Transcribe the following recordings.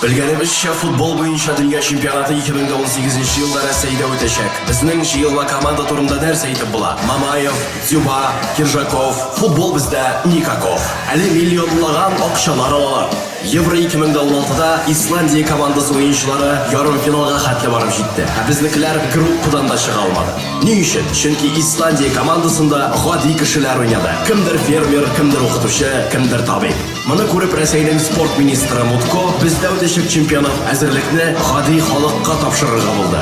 Белгәнебезчә, футбол буенча дөнья чемпионаты 2018 елда Рәсәйдә үтәчәк. Безнең җыелма команда турында нәрсә әйтеп була? Мамаев, Дзюба, Киржаков, футбол бездә никаков. Әле миллионлаган акчалар алалар. Евро 2016-да Исландия командасы уенчылары ярымфиналга хәтле барып җитте, ә безнекеләр группадан да чыга алмады. Ни өчен? Чөнки Исландия командасында гади кешеләр уйнады. Кемдер фермер, кемдер укытучы, кемдер табиб. Моны күреп Рәсәйнең спорт министры Мутко бездә үтәчәк чемпионат әзерлекне гади халыкка тапшырырга булды.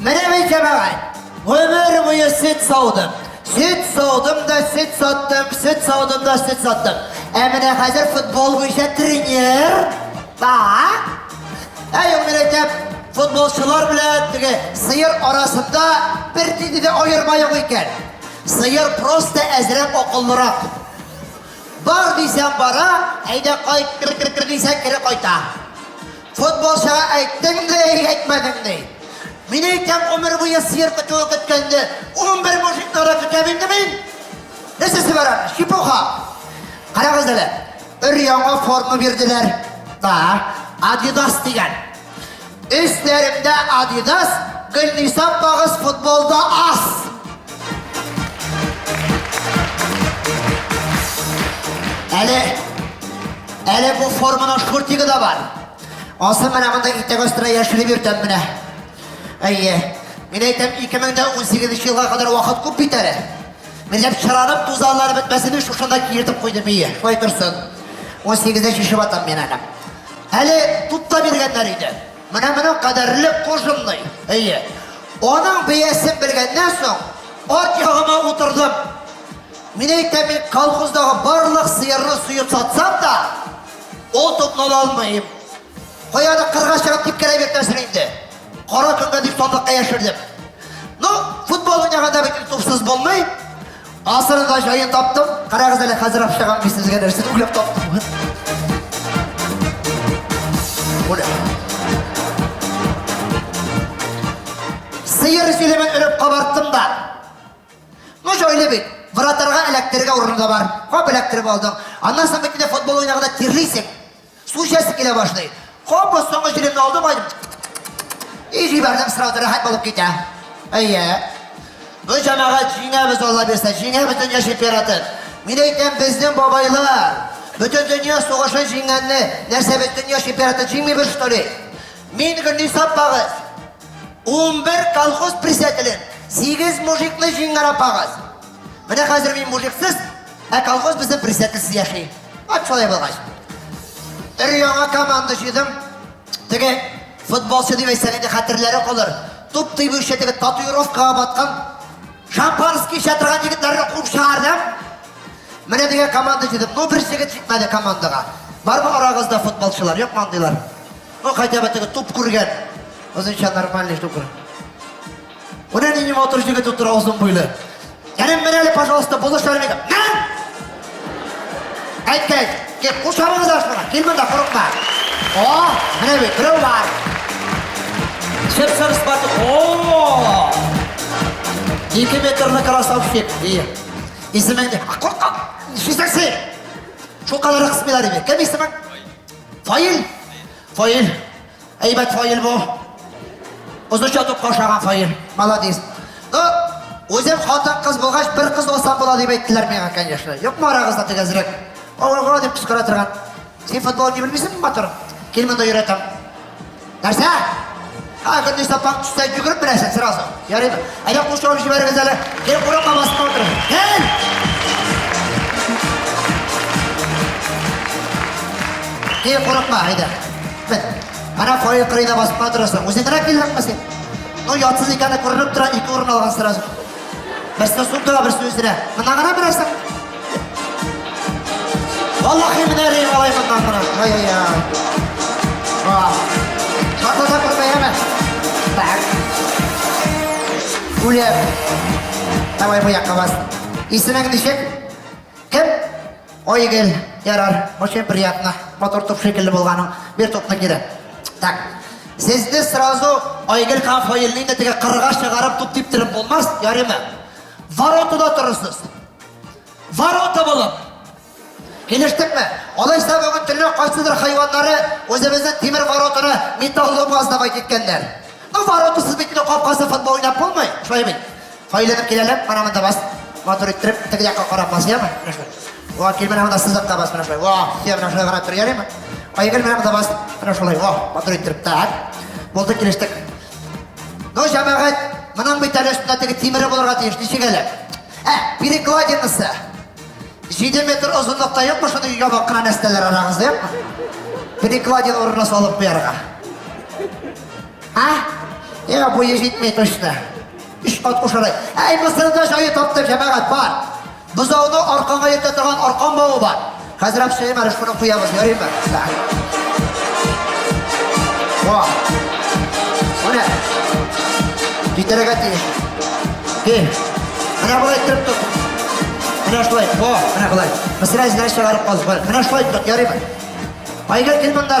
Менә мин җәмәгать, гомер буе сөт саудым. Сөт саудым да сөт саттым, сөт саудым да сөт саттым. Ә менә хәзер футбол буенча тренер. Ба. Ә югыйрәтә футболчылар белән теге сыер арасында бер нинди дә аерма юк икән. Сыер просто әзрәк акыллырак. Бар дисәң бара, әйдә кайт, кер кер кер дисәң кире кайта. Футболчыга әйттең дә или әйтмәдең ни? Мин әйтәм, гомер буе сыер көтүе көткәнне, унбер мужикны да көтәм инде мин! Нәрсә сибәрәм? Чепуха! Карагыз әле, өр-яңа форма бирделәр. Да, Адидас дигән. Өсләремдә Адидас, Гөлниса апагыз футболда аз. Әле, әле бу форманың шкуртигы да бар. Асы менә монда итәк астына яшереп йөртәм менә. Әйе. Мин әйтәм, 2018 елга кадәр вакыт күп бит әле. Минем чыранып тузанлары бетмәсен өчен шунда киертеп куйдым ие. Шулай торсын. 18-дә шешеп атам мин әле. Әле тупта биргәннәр иде. Менә моның кадәрле кожымный. Әйе. Аның биясен белгәннән соң, ат ягыма утырдым. Мин әйтәм, мин колхоздагы барлык сыерны суеп сатсам да, ул топны ала алмыйм. Каяны кырга чыгып типкәләп йөртәсең инде. Кара көнгә дип сандыкка яшердем. Ну, футбол уйнаганда бит тупсыз булмый. Асырырга җаен таптым. Карагыз әле хәзер акчагам мин сезгә нәрсә уйлап таптым. Ура. Сыер сөйлемен өреп кабарттым да. Ну җайлы бит. Вратарга эләктерергә урыны да бар. Кап эләктереп алдың. Аннан соң бит футбол уйнаганда тирлисең. Су эчәсе килә башлый. Капы соңгы җилемне алдым ай. И җибәрдем сразу рәхәт булып китә. Әйе. Бу җәмәгать җиңәбез Алла бирсә, җиңә бөтен яшь император. Мин әйтәм, безнең бабайлар бөтен дөнья сугышын җиңгәнне, нәрсә без дөнья чемпионаты җиңмибез что ли? Мин гөрни саппагыз. 11 колхоз председателен, 8 мужикны җиңгән апагыз. Менә хәзер мин мужиксыз Ә колхоз безнең присяткасы яши. Ат шулай булгач. Өр яңа команда җыйдым. Теге футболчы дип әйтсәң инде хәтерләре калыр. Туп тыйбыйча теге татуировкага баткан шампанский эчә торган егетләрне куып чыгардым. Менә дигән команда җыйдым. Ну бер җегет җитмәде командага. Бармы арагызда футболчылар? Юк мандыйлар. Ну хотя бы теге туп күргән. Озынча нормальный туп күргән. Менә нинди матур җегет утыра озын буйлы. Кәрим, менә әле, пожалуйста, булыш бәрмәгә. Мен! Әйт, әйт, кеп, кушамыз ашмана, кил монда, курыкма. О, менә бит, берәү бар. Шеп сырыс бату. О! Ике метрлы красавчик. И. Исемең не? А курка! Сүздән сый! Шул кадәр кысмыйлар иде. Кем исемең? Фаил. Фаил. Әйбәт файл бу. Узыш ятып кашаган файл. Молодец. Ну, үзем хатын кыз булгач, бер кыз алсам була дип әйттеләр миңа, конечно. Юкмы арагызда тигезрәк? Ого, дип кычкыра торган. Син футбол не белмисеңме, матур? Кил монда йөрәтәм. Нәрсә? Ха, көндез сапаң төстә йөгереп беләсең сразу. Ярый. Әйдә кушылып җибәрегез әле. Кел курыкма басып отыр. Кел! Кел курыкма, әйдә. Ана фойе кырыйда басып кына торасың. Үзең генә килдеңме син? Ну, ятсыз икәне күренеп тора, ике урын алган сразу. Берсен сумдыга, берсен үзенә. Мына гына берәсең. Валлахи менә рейм алай моннан гына. Ай-яй-яй. Шатлата күрмәйәме? Так. Үлеп. Давай бу якка бас. Исемең ничек? Кем? Ой, гел, ярар, очень приятно, матур туп шикелле булганың, бир тупны кире. Так, сезне сразу Айгел һәм Фаилне инде теге кырга чыгарып туп типтереп булмас, ярыймы? Воротада торырсыз. Ворота булып. Килештекме? Алайса бүген төнлә кайсыдыр хайваннары үзебезнең тимер воротаны металл алмаз давай киткәннәр. Ну, воротасыз бит, капкасы футбол уйнап булмый, шулай бит. Кайланып киләләр, карамын да бас. Матур иттереп, теге якка карап бас, яме? Менә шулай. Ва, кил менә монда сызыкка бас, менә шулай. Ва, сия менә шулай карап тор, ярыймы? Айгөл менә монда бас, менә шулай. Ва, матур иттереп, так. Булды, килештек. Ну, җәмәгать, моның бит әле өстендә теге тимере булырга тиеш, ничек әле? Ә, перекладинасы. 7 метр озынлыкта юкмы шундый ябык кына нәрсәләр арагызда юкмы? Перекладин урынына салып куярга. А? Я бу ежит точно. Өч кат кушалай. Әй, Мисырда җае таптык, җәмәгать бар. Бозауны арканга йөртә торган аркан бавы бар. Хәзер әп шәймә реш шуны куябыз, ярыймы? Ва. Менә. Китерергә тиеш. Кил. Менә болай итеп тот. Менә шулай. Ва, менә болай. Мисыр әзләр чыгарып калдык. Менә шулай тот, ярыймы? Айгыр кил монда.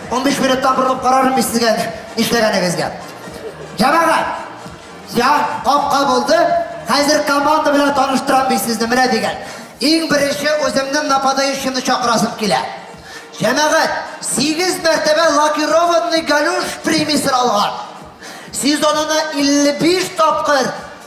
15 минуттан борылып карарым мин сезгә нишләгәнегезгә. Җәмәгать! Я, капка булды. Хәзер команда белән таныштырам бит сезне менә дигән. Иң беренче үземнең нападающимны чакырасым килә. Җәмәгать, 8 мәртәбә лакированный галюш премиясен алган. Сезонына 55 тапкыр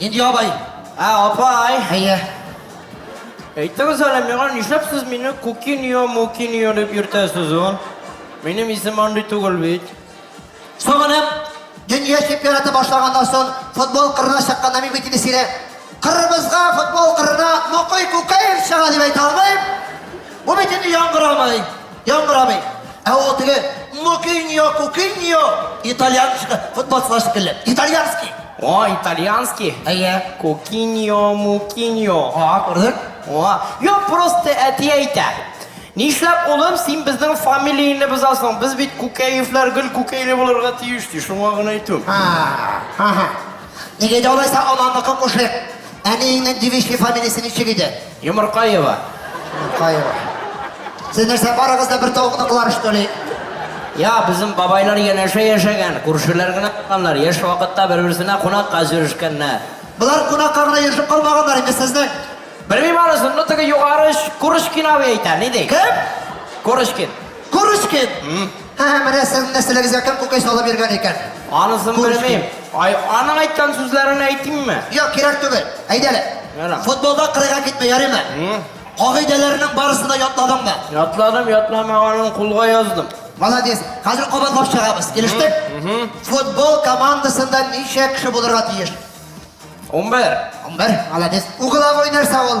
Нинди абай? Ә, апай! Әйе. Әйтегез әле миңа, нишләп сез мине Кукиньо, Мукиньо дип йөртәсез, а? Минем исем андый түгел бит. Соңынып, дөнья чемпионаты башлаганнан соң футбол кырына чыккан Намиб итилесире Кырмызга футбол кырына Мокой Кукаев чыга дип әйтә алмыйм. Бу бит инде яңгырамый. Яңгыр абый, ә ул теге Мукиньо, Кукиньо, итальян футболчылар шикелле. Итальянский. О, итальянский. Әйе. Кукиньо, Мукиньо. А, күрдек. О, юк, просто әти әйтә. Нишләп улым, син безнең фамилияне бозасың? Без бит Күкәевләр гел Күкәйле булырга тиеш, ди. Шуңа гына әйтү. А, ага. Нигә дә алайса ананыкы кушыйк. Әниеңнең девичий фамилиясе ничек иде? Йомыркаева. Йомыркаева. Сез нәрсә барыгыз да бер тавыкныкылар штоли? Я, безнең бабайлар янәшә яшәгән, күршеләр генә булганнар, яшь вакытта бер-берсенә кунакка җөрешкәннәр. Болар кунакка гына йөрешеп калмаганнар инде сезнең. Белмим анысын, но теге югары Курочкин абый әйтә, ни ди? Кем? Курочкин. Курочкин? Һә, менә сезнең нәселегезгә кем кукай салып йөргән икән? Анысын Күреш белмим. Ай, аның әйткән сүзләрен әйтимме? Юк, кирәк түгел. Әйдә әле. Ярар. Футболда кырыйга китмә, ярыймы? М? Кагыйдәләрнең барысын да ятладың да. Ятладым, ятламаганын кулга яздым. Молодец. Хәзер кабатлап чыгабыз. Килештек? Футбол командасында ничә кеше булырга тиеш? 11. Унбер. Молодец. Угловой нәрсә ул?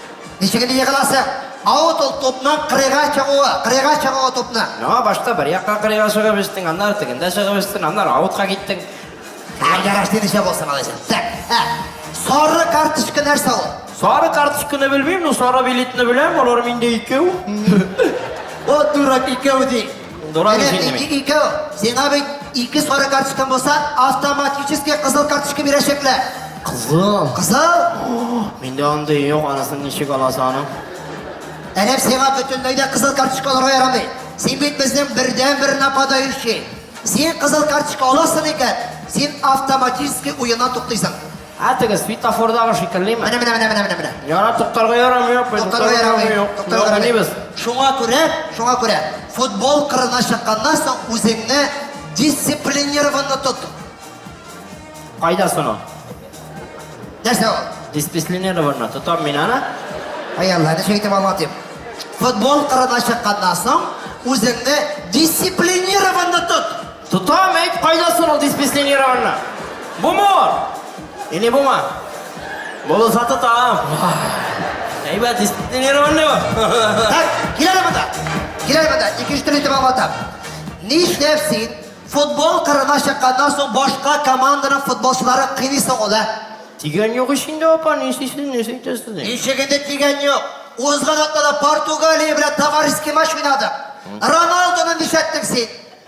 Ничек инде егыласы? Аут ул тупны кырыйга чыгуы, кырыйга чыгуы тупны. Яңа башта бер якка кырыйга чыгып эчтең, аннары тегендә чыгып эчтең, аннары аутка киттең. Ә яраш дидеше булсын алайса. Так, ә, сары карточка нәрсә ул? Сары карточканы белмим, но сары билетны беләм, алар миндә икәү. О, дурак икәү ди. Менә икәү, сиңа бит ике сары карточка булса, автоматически кызыл карточка бирәчәкләр. Кызыл. Кызыл? Миндә андый юк, анысын ничек аласы аның? Әлем сиңа бөтенләй дә кызыл карточка алырга ярамый. Син бит безнең бердән-бер нападающий. Син кызыл карточка аласың икән, син автоматически уена туктыйсың. Ә теге светофордагы шикеллеме? Менә, менә, менә, менә, менә, менә. Яра, туктарга ярамый, апай. Туктарга ярамый. Туктарга ярамый. Шуңа күрә, шуңа күрә, футбол кырына чыкканнан соң үзеңне дисциплинированно тот. Кайда соны? Нәрсә ул? Дисциплинированно тотам мин аны. Ай Алла, нәрсә әйтеп алма дип. Футбол кырына чыкканнан соң үзеңне дисциплинированно тот. Тотам әйт кайда соң ул диспенсионированна? Бумы? Или бума? Булса тотам. Әйбәт диспенсионированный бу. Так, киләле монда. Киләле монда. Икенче төрле итеп аңлатам. Нишләп син футбол кырына чыкканнан соң башка команданың футболчылары кыйныйсың ул, ә? Тигән юк ич инде апа, нишлисез, нишләр итәсез? Ничек инде тигән юк. Узган атнада Португалия белән товарищеский матч уйнадык. Роналдуны нишләттең син?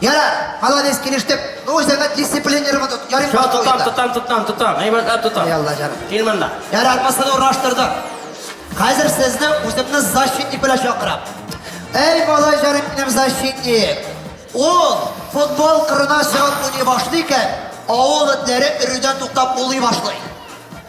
Ярар, молодец, килештек. Ну, үзеңә дисциплинер вот тут. Ярым Все, тотам, тотам, тотам, тотам. Әйбәтләп тотам. Эй, Алла җаным. Кил монда. Ярар. Аркасын урнаштырдым. Хәзер сезне үземне защитник белән чакырам. Эй, малай җаным минем защитник. Ул футбол кырына чыгып уйный башлый икән, авыл этләре өрүдән туктап улый башлый.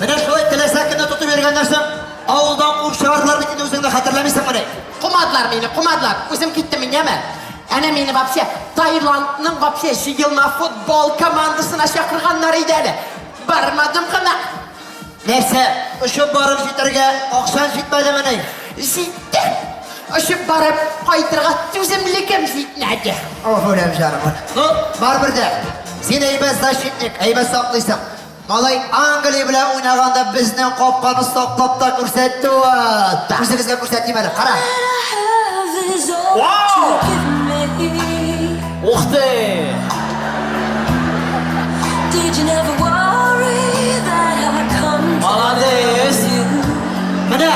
Менә шулай теләсә кемне тотып йөргәннән соң, авылдан куып чыгардылар бит инде үзеңне хәтерләмисеңмени? Кумадылар мине, кумадылар. Үзем киттем мин, яме. Әнә мине вообще Таиландның вообще җыелма футбол командасына чакырганнар иде әле. Бармадым гына. Нәрсә, очып барып җитәргә акчаң җитмәдемени? Җитте. Очып барып кайтырга түземлегем җитмәде. Ох, үләм җаным. Ну, барыбер дә, син әйбәт защитник, әйбәт саклыйсың. Малай Англия белән уйнаганда безнең капканы саклап та күрсәтте ул. Тагын сезгә күрсәтим әле. Кара. Ух ты! Молодец! Менә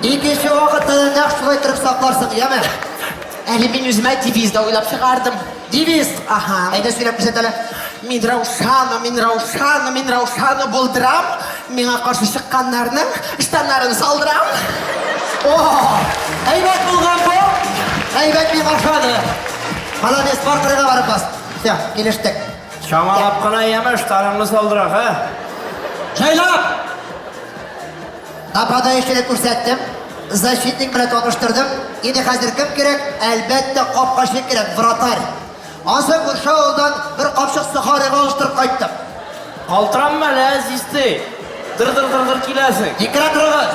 икенче вакытта да нәкъ шулай торып сакларсың, яме? Әле мин үземә девиз да уйлап чыгардым. Девиз, аһа. Әйдә сөйләп күрсәт әле. Мин Раушана, мин Раушана, мин Раушана булдырам. Миңа каршы чыкканнарның штаннарын салдырам. О! Әйбәт булган бу. Әйбәт миңа ошады. Молодец, бар кырыйга барып бас. Все, килештек. Чамалап кына яме, штаныңны салдырак, ә? Җайлап! Нападающийны күрсәттем, защитник белән таныштырдым. Инде хәзер кем кирәк? Әлбәттә, капкачы кирәк, вратарь. Ансы күрше авылдан бер капчык сухарыга алыштырып кайттым. Калтыранма әле, әзизтей. Дыр-дыр-дыр-дыр киләсең. Икрәк рыгыз.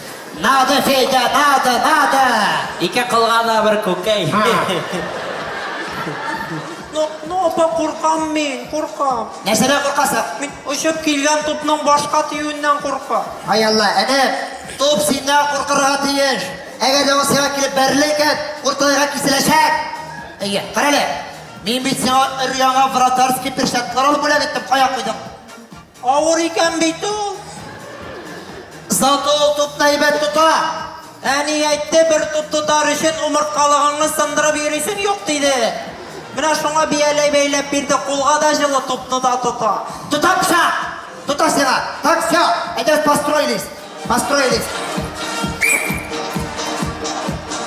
Надо, Федя, надо, надо! Ике кылгана бер күкәй. Ну, ну, апа, куркам мин, куркам. Нәрсәдә куркасың? Мин очып килгән тупның башка тиюеннән куркам. Ай Алла, әнә топ синнән куркырга тиеш. Әгәр дә ул сиңа килеп бәрелә икән, урталайга киселәчәк. Әйе, карале. Мин бит сиңа өр-яңа вратарский перчаткалар алып бүләк иттем, кая куйдың? Авыр икән бит ул. Зато ул тупны әйбәт тота. Әни әйтте, бер туп тотар өчен умырткалыгыңны сындырып йөрисең юк диде. Менә шуңа бияләй бәйләп бирде, кулга да җылы тупны да тота. Тота пса! Тота сиңа! Так, все, әйдәгез построились. Построились.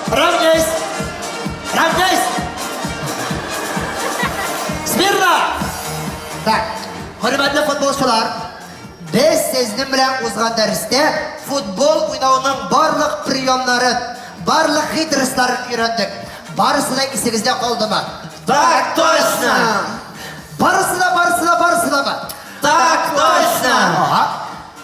Равняйсь. Равняйсь. Смирно. Так. Хөрмәтле футболчылар, без сезнең белән узган дәрестә футбол уйнауның барлык приемнарын, барлык хитрысларын өйрәндек. Барысы да исегездә калдымы? Так точно. Барысы да, барысы да, барысы да. Так точно. Ага.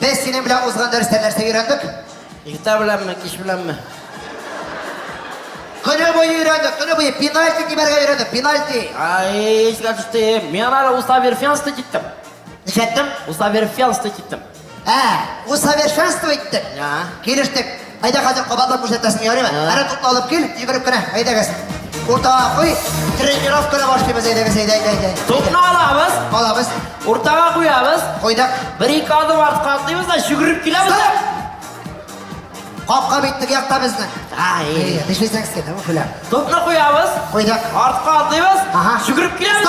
Без синең белән узган дәрестә нәрсә өйрәндек? Иртә беләнме, кич беләнме? Көне буе өйрәндек, көне буе пенальти тибәргә өйрәндек, пенальти. Ай, искә төште. Мин ары усоверфенство киттем. Ничәттем? Усоверфенство киттем. Ә, усовершенство иттек. Я. Килештек. Әйдә, хәзер кабатлап күрсәтәсең, ярыймы? Әнә тотны алып кил, йөгереп кенә. Әйдәгез. Уртага куй. Тренировканы башлыйбыз, әйдәгез, әйдә, әйдә, әйдә. Топны алабыз. Алабыз. Уртага куябыз. Куйдык. Бер ике адым артка атлыйбыз да йөгереп киләбез. Капка бит теге якта безнең. Ай, төшесәң син, күләм. Топны куябыз. Куйдык. Артка атлыйбыз. Ага. Йөгереп киләбез.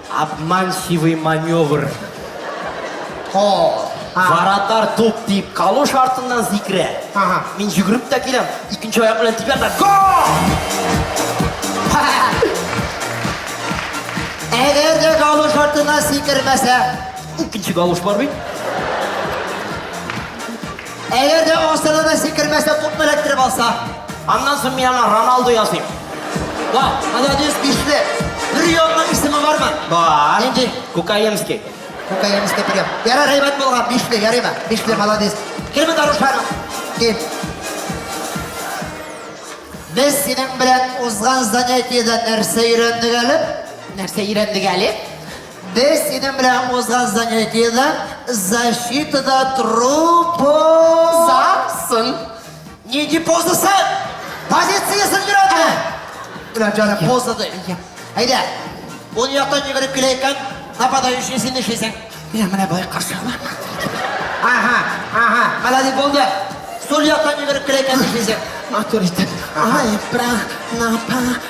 Обманчивый маневр. О, а. Варатар туп дип калуш артыннан сикерә. Ага. Мин жүгереп тә киләм. Икенче аяк белән тибәм дә гол! Әгәр дә калуш артына сикермәсә, Икенче калуш бар бит. Әгәр дә асылы да сикермәсә, тупны эләктереп алса. Аннан соң мин ана Роналду языйм. Ва, молодец, бишле. Бер ягына исеме бармы? Бар. Нинди? Кукаемский. Кукаемский прием. Яра рәйбәт булган, бишле, ярыймы? Бишле, молодец. Кирме дарушар? Ким. Без синең белән узган занятиедә нәрсә өйрәндек әле? Нәрсә өйрәндек әле? Без синең белән узган занятиедә защитада тору позасын. Нинди позасы? Позициясен бирәдме? Менә җаны поза ди. Әйдә, ул яктан йөгереп килә икән, нападающий син нишлисең? Менә менә бай каршы алам. Ага, ага, молодец булды. Сул яктан йөгереп килә икән нишлисең? Авторитет. Ай, прах, напа,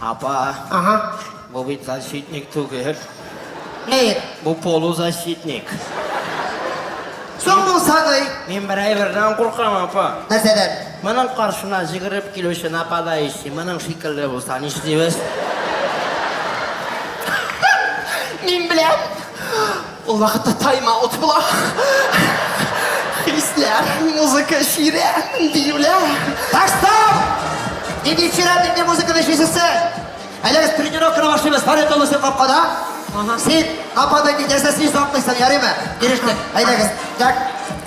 Апа. Ага. Бу бит защитник түгел. Ни? Бу полузащитник. Соң булса ни? Мин бер әйбердән куркам, апа. Нәрсәдән? Моның каршына җигереп килүче нападающий моның шикелле булса нишлибез? Мин беләм. Ул вакытта тайм-аут була. Хисләр, музыка, ширә, биюләр. Так, стоп! Нинди ширә, нинди музыканы ишесез сез? Әле без тренировканы башлыйбыз, парит олысы капкада. Син капкада китәсә, син саклыйсың, ярыймы? Ирештек. Әйдәгез. Так.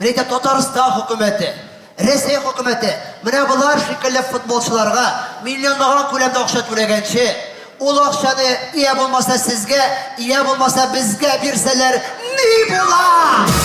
Мин әйтәм, Татарстан хөкүмәте, Рәсәй хөкүмәте менә болар шикелле футболчыларга миллионлаган күләмдә акча түләгәнче, ул акчаны йә булмаса сезгә, йә булмаса безгә бирсәләр ни була?